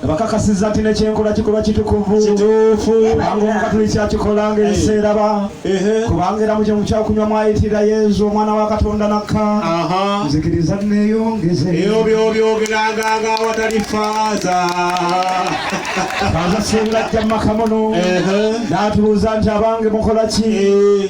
bakakasiza nti nekyenkola kikolwa kitukuvu kituufu kubanga omukatuliki akikola nga ebiseera ba kubanga era mukyo mukyakunywa mwayitira yezu omwana wa katonda nakka nzikiriza neyongeze eyo byobyogeranga nga awatali faaza faaza singa ajja mumakamono natubuuza nti abange mukola ki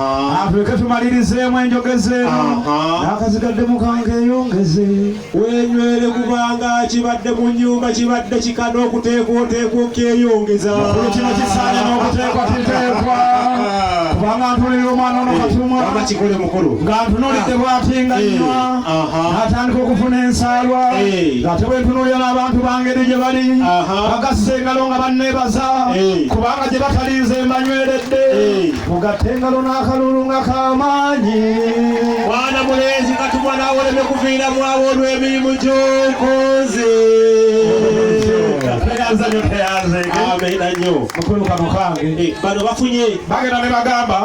Atuleke tumalirizeemu enjogeze n'akazigadde mukanga eyongeze wenywere kubanga kibadde mu nyumba kibadde kika n'okuteekwa oteekwa okyeyongeza kino kisaanya n'okuteekwa kiteekwa kubanga ntunulira omwana ono katumwakikole eh, mukulu nga ntunulidde bwatinga eh, nywa atandika okufuna ensaalwa eh. ngate bwentunulira n'abantu bangeri gye bali bagassa engalo nga banneebaza kubanga gye batalinze mbanyweredde mugatte engalo n'akalulu nga k'amaanyi mwana mulenzi nga tumwa n'awoleme kuviira mwawo olw'emirimu gy'okoze teyanze nyo teyanze amina nyo mukulu kano kange eh, bano bafunye bagenda ne bagamba